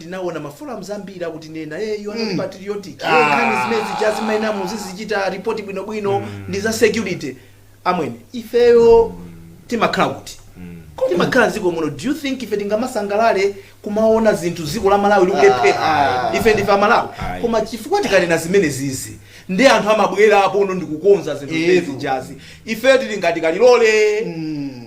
Speaker 1: ndinaona maforums ambiri akutinenera hey, you are not patriotic Ah. hey, nkhani zimene zija zimayenera muzizichita report bwinobwino ndi za security amwene ifeyo timakhala kuti timakhala dziko muno do you think ife tingamasangalale kumaona zinthu dziko la malawi likulephera Ah. ife ndife amalawi Ayi. koma chifukwa tikanena zimenezizi ndi anthu amabwera apono ndikukonza zinthu Etu. zimenezi jazi ifeyo tili ngati kalilole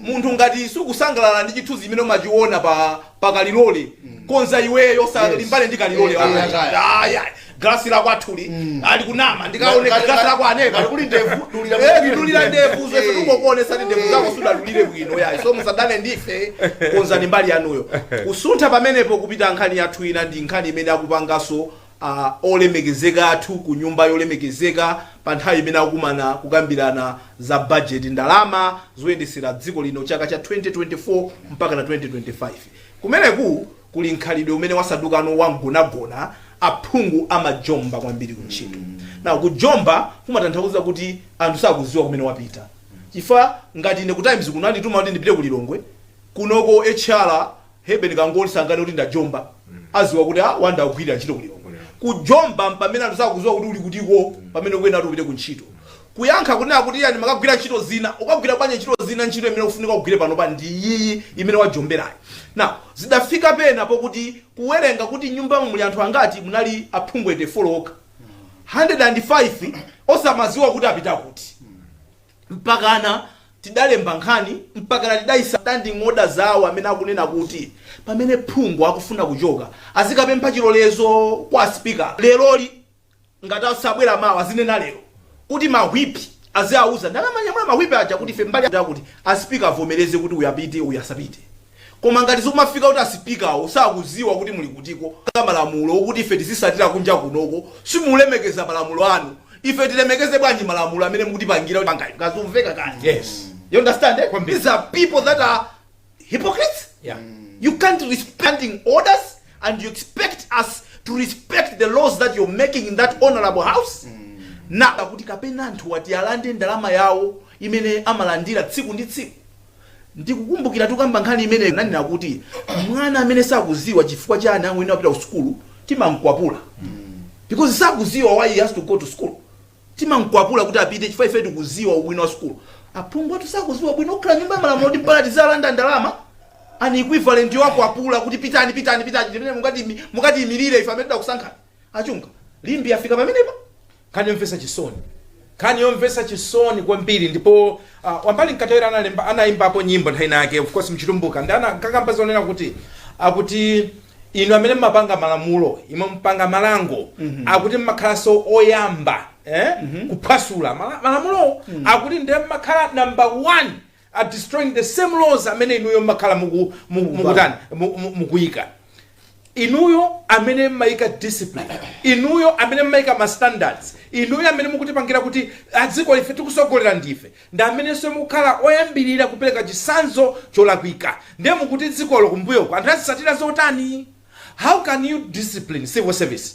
Speaker 1: munthu ngati sukusangalala ndi chithunzi chimene umachiona pa pakalilole konza iweyo usalimbane ndi kalilole wako Aya, aya. aya glasi lako athuli ali kunama ndikaoneka Ngati- glasi lako aneka ngati kuli ndevu, dulira Eh, muthu. ndidulira ndevu zese Eh. tingokuonesa ndi ndevu zako sudadulire bwino yayi so musadane ndife konzani mbali yanuyo kusuntha pamenepo kupita nkhani yathu ina ndi nkhani imene akupanganso Olemekezeka athu ku nyumba yolemekezeka pa nthawi imene akukumana kukambirana za bajeti, ndalama zoyendesera dziko lino chaka cha 2024 mpakana 2025. Kumeneku kuli mkhalidwe umene wasandukano wa mgonagona, aphungu amajomba kwambiri ku ntchito. Now kujomba kumatanthauza kuti anthu sakuziwa kumene wapita chifukwa ngati ine ku times kuno andituma kuti ndipite ku Lilongwe, kunoko HR, Heben kangoti sanganene kuti ndajomba aziwa kuti a Wonder akugwilira ntchito ku Lilongwe kujomba mpamene anthu sakuziwa kuti uli kutiko pamene ukuyenera kuti upite ku ntchito kuyankha kunena kuti iya ndimakagwira ntchito zina ukagwira bwanji ntchito zina ntchito imene ukufunika ugwire panopa ndi iyiyi imene wajomberayi now zidafika pena pokuti kuwerenga kuti nyumbamo muli anthu angati munali aphungu 84 okha 105 osamaziwa kuti apita kuti Mpakana tidalemba nkhani, mpakana tidaisa standing order zawo amene akunena kuti pamene phungu akufuna kuchoka azikapempha chilolezo kwa asipika leroli. Ngati sabwera mawa azinena lero kuti ma whip aziauza ndi akamanyamula ma whip aja kuti ife mbali yakuti yakuti asipika avomereze kuti uyu apite uyu asapite. Koma ngati zikumafika kuti asipikawo sakudziwa kuti muli kutikonzera malamulo okuti ife tizitsatira kunja kunoko simulemekeza malamulo anu ife tilemekeze bwanji malamulo amene mukutipangira panga inu zikumveka kani Yes. you understand
Speaker 2: eh? Kwambiri.
Speaker 1: these are people that are hypocrites Yeah.
Speaker 2: you
Speaker 1: can't respecting orders and you expect us to respect the laws that you're making in that honorable house nakuti kapena anthuwa ati alande ndalama yawo imene amalandira tsiku ndi tsiku Ndikukumbukira tikukamba nkhani imeneyo ananena kuti mwana amene sakudziwa chifukwa chani akuyenera kupita ku sukulu timamkwapula because sakudziwa why he has to go to school. Timamkwapula kuti apite chifukwa ife tikudziwa ubwino wa sukulu. Aphungu athu sakudziwa ubwino okhala nyumba ya malamulo kuti mpaka tizilanda ndalama an equivalent yowakwapula kuti pitani pitani pitani ndi mmene mukati mukatiyimilire ife amene tidakusankhani. achunga limbi yafika pamenepo nkhani yomvetsa
Speaker 2: chisoni nkhani yomvetsa chisoni kwambiri ndipo uh, Wambali Mkandawire analemba anayimbapo nyimbo nthawi inayake of course mchitumbuka ndiye ankakamba zonena kuti akuti inu amene mmapanga malamulo imwe mpanga malango akuti mmakhalanso oyamba eh? kuphwasula Mala- malamulo akuti ndiye mmakhala number one at destroying the same laws amene inuyo mmakhala muku- muku- Mukumva. mukutani mu- mu- mukuyika inuyo amene mmayika discipline inuyo amene mmayika ma standards inuyo amene mukutipangira kuti adziko ife tikutsogolera ndife ndi amenenso mukukhala oyambirira kupereka chitsanzo cholakwika ndiye mukuti dzikolo kumbuyoko anthu azitsatira zotani how can you discipline civil service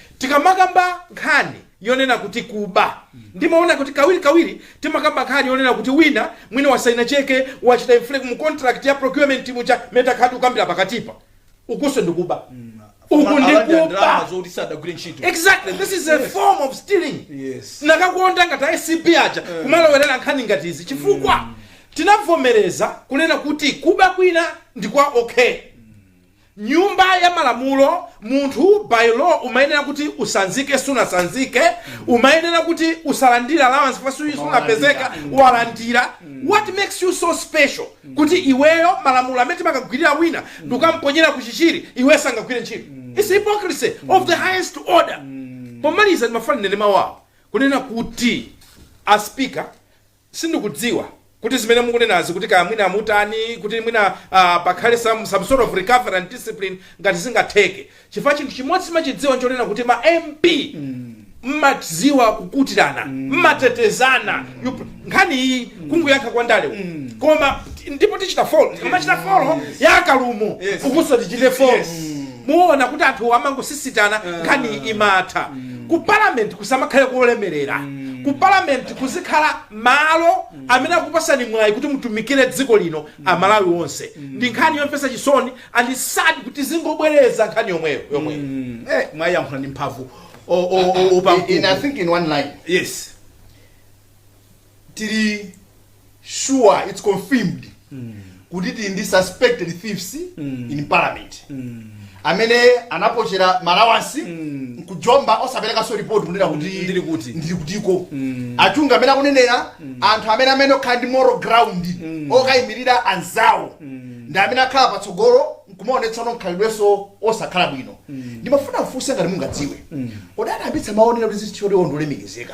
Speaker 2: Tikamakamba nkhani yonena kuti kuba, ndimaona kuti kawirikawiri timakamba nkhani yonena kuti wina mwina wasayina cheke, wachita inflate mu contract ya procurement muja, mmene takhalira tikukambira pakatipa. Ukunso ndi kuba. Uku ndi Alandira kuba. ndalama zokuti sadagwire ntchito. Exactly. This is a form of stealing. Yes.
Speaker 1: Ndikadakonda ngati
Speaker 2: a ACB aja kumalowerera nkhani ngati izi chifukwa tinavomereza kunena kuti kuba kwina ndi kwa okay. nyumba ya malamulo munthu by law umayenera kuti utsanzike sunatsanzike umayenera kuti usalandire allowance pa tsiku sunapezeke walandira what makes you so special kuti iweyo malamulo amene timakagwirira wina ndikukamponyera ku Chichiri iwe sangagwire ntchito it's hypocrisy of the highest order pomaliza ndimafuna ndinene mawu awa kunena kuti a speaker Sindikudziwa kuti zimene mukunenazi kuti kaya mwina mutani kuti mwina aah pakhale some some sort of recovery and discipline ngati zingatheke chifukwa chinthu chimodzi timachidziwa nchonena kuti ma MP mmadziwa kukutirana mmatetezana you pr- nkhani iyi kungoyankha kwa ndale uku. koma ndipo tichita follow tikamachita follow ya a Kalumo Yes. ukunso tichite follow Yes. Muona kuti anthuwo amangosisitana nkhaniyi imatha. Ku parliament kusamakhale kolemelera. Ku parliament kuzikhala malo amene akupasani mwayi kuti mutumikire dziko lino amalawi onse. Ndi nkhani yomvetsa chisoni and sad kuti tizingobwereza nkhani yomweyo yomweyo.
Speaker 1: Eh mwayiyankhula ndi mphamvu o o o o
Speaker 3: And I think in one line. Yes. tili sure it's confirmed kuti tili ndi suspected thieves in parliament amene anapochera ma allowance nkujomba osaperekanso report kunena kuti ndili kutiko Achunga amene akunenera anthu amene amene okhala ndi moral ground okayimirira anzawo ndi amene akhala patsogolo nkumaonetsano mkhalidwenso osakhala bwino ndimafuna mfunse ngati mungadziwe kodi ndani anayambitsa maonera kuti zinthu choti ondolemekezeka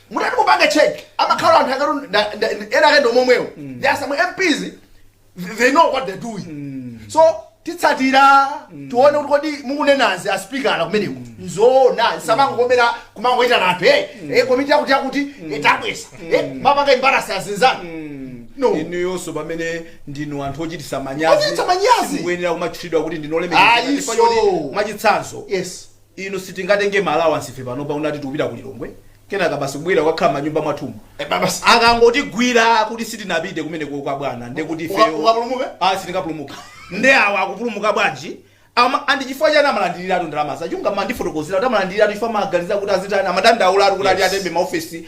Speaker 3: mutati kupanga check amakhala anthu akatu nda- nda- nda- ena ake ndomomwewo there are some MPs th- they know what they're doing so titsatira tione kuti kodi mukunenazi aspikala kumeneko nzoona zisamangokoma kumangoitana anthu e e komiti yakuti yakuti itabwesa e mumapanga embarrass azinzanu no inuyonso pamene
Speaker 1: ndinu anthu ochititsa manyazi mukuyenera kumatchulidwa kuti ndinu olemekezeka Ayi, Chifukwa so. choti mwachitsanzo yes
Speaker 3: Inu
Speaker 1: sitingatenge ma allowance ife panopa kunati tikupita ku Lilongwe kenaka basi kubwelera kukakhala mmanyumba mwathumu akangotigwira kuti sitinapite kumeneko kwa bwana nde kuti ifeyo tikapulumuke ah sitingapulumuke nde awa akupulumuka bwanji ama ndi chifukwa chani amalandiliratu ndalamazo Achunga mandifotokozera kuti amalandiliratu chifukwa amaganiza kuti azitani amadandaulatu kuti ati atembe maofesi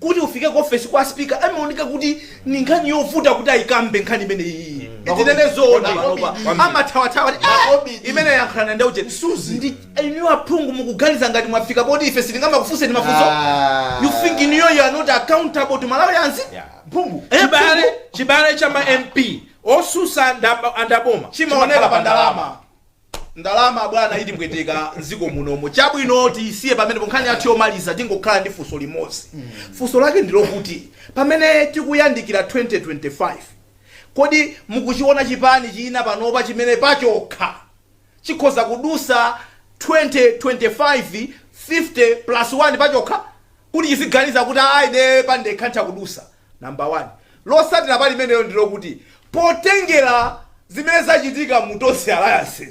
Speaker 1: Kuti ufike ku ofesi kwa speaker amaoneka kuti ni nkhani yovuta kuti aikambe nkhani imeneyi itinene zoona panopa amathawathawa kuti, "Ah, imeneyi yankhulani ndi uje ndi inu aphungu mukuganiza ngati mwafika poti ife sitingamakufunseni mafunso Ah. you think in you you are not accountable to malawians Mphungu. Eh,
Speaker 3: chibale chibale
Speaker 2: cha ma mp osusa ndaba- andaboma chimaoneka pa ndalama
Speaker 1: Ndalama bwana itipweteka m'dziko munomo. Chabwino tiisiye pamenepo. Nkhani yathu yomaliza tingokhala ndi funso limodzi. Funso lake ndi lokuti, pamene tikuyandikira 2025, kodi mukuchiona chipani china panopa chimene pachokha chikhoza kudutsa 2025 50 plus 1 pachokha kuti chiziganiza kuti, Aa, ine pandekha nditha kudutsa? Number 1. Losatira pali imeneyo ndi lokuti potengera zimene zachitika mu Tonse Alliance,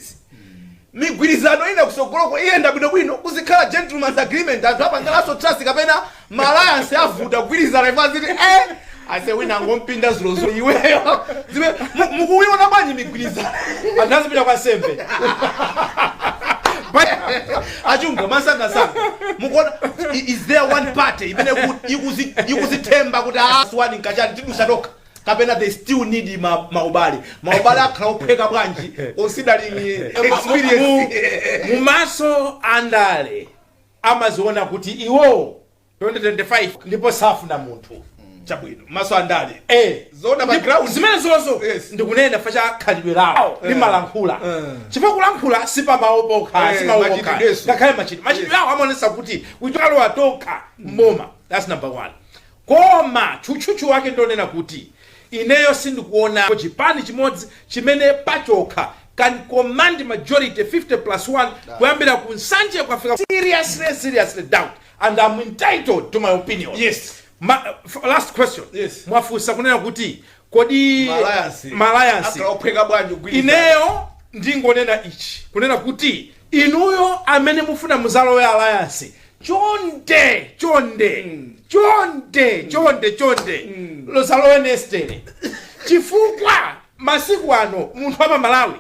Speaker 1: migwirizano ina kusogoloko iyenda bwinobwino kuzikhala gentleman's agreement anthu apangalanso trust kapena ma alliance avuta kugwirizana imwe aziti eh ase wina angompinda dzulodzulo iweyo zime mu- mukuiona bwanji migwirizano Anthu azipita kwa
Speaker 2: sembe.
Speaker 1: A Chunga mwansangansanga mukuona i- is there one party imene iku- ikuzi- ikuzithemba kuti aswa ndi kachani tidusa tokha kapena they still need ma- maubale maubale akhala ophweka bwanji considering eh, experience mumaso
Speaker 2: andale amaziona kuti iwowo 2025 ndipo safuna munthu chabwino
Speaker 1: maso andale Eh. zoona
Speaker 2: pa ground zimenezozo Yes. ndikunena chifukwa cha khalidwe lawo Eh. limalankhula Eh. chifukwa kulankhula si pamawu pokha Eh, si mawu machitidwe pokha yes. ngakhale machitidwe machitidwe awo amaonesa kuti tidzalowa tokha m'boma that's number one koma tchutchutchu wake ndonena kuti ineyo sindikuona chipani chimodzi chimene pachokha can command majority 50 plus 1 kuyambira ku Nsanje kukafika seriously seriously doubt and I'm entitled to my opinion Yes.
Speaker 1: Ma, f-
Speaker 2: last question Yes. mwafunsa
Speaker 1: kunena
Speaker 2: kuti kodi Malayansi. malayansi Akhala ophweka bwanji
Speaker 1: kugwirizana? ineyo
Speaker 2: ndingonena ichi kunena kuti inuyo amene mufuna muzalowe alliance chonde chonde chonde chonde chonde lozalowe nestere chifukwa masiku ano munthu wa pa Malawi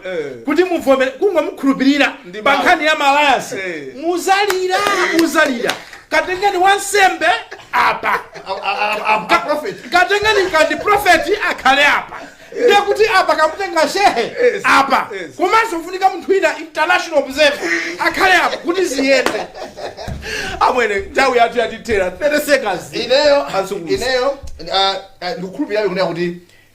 Speaker 2: kuti muvomere kungomukhulupirira pa nkhani ya malayansi muzalira muzalira katengeni wansembe apa katengeni kandi profeti akhale apa ndiye kuti apa kamutenga shehe apa komanso kufunika munthu wina international observer akhale apa kuti
Speaker 1: ziyende amwene nthawi yathu yatithera 30 seconds ineyo Azunguza. ineyo
Speaker 3: ah, ah, ndikukhulupirira kunena kuti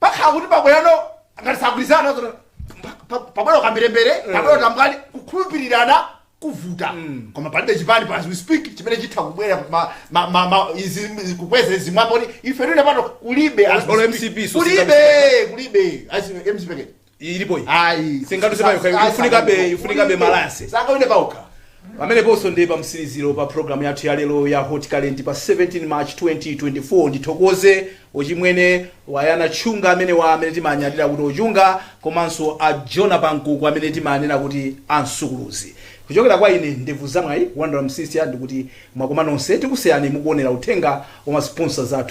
Speaker 3: pakhala kuti pabwerano ngati sagwirizana zona pabwera ukamberembere pabwera utambwali kukhulupirirana kuvuta koma palibe chipani pa as we speak chimene chitha kubwera ma- ma- ma- ma- izi- kukweza zimwapo ife tine pano kulibe as we Olo speak. MCP, so kulibe
Speaker 1: kulibe
Speaker 3: as mcp Iyi ilipo iyi.
Speaker 1: Ayi. Singaduse pa yokha, Ayi, ifunikabe- sangawine. ifunikabe malayansi. Sangawine pa
Speaker 3: okha. pameneponso
Speaker 1: ndi pa mtsiriziro pa programu yathu ya lero ya hot current pa 17 march 2024 ndithokoze ochimwene wayana tchunga amene wa amene timanyadira kuti ochunga komanso a jona pankuku amene timanena kuti ansukuluzi kuchokera kwa ine ndevu zamwayi Wonder Msiska ndikuti mwakoma nonse tikusiyani mukuonera uthenga wa masponsors athu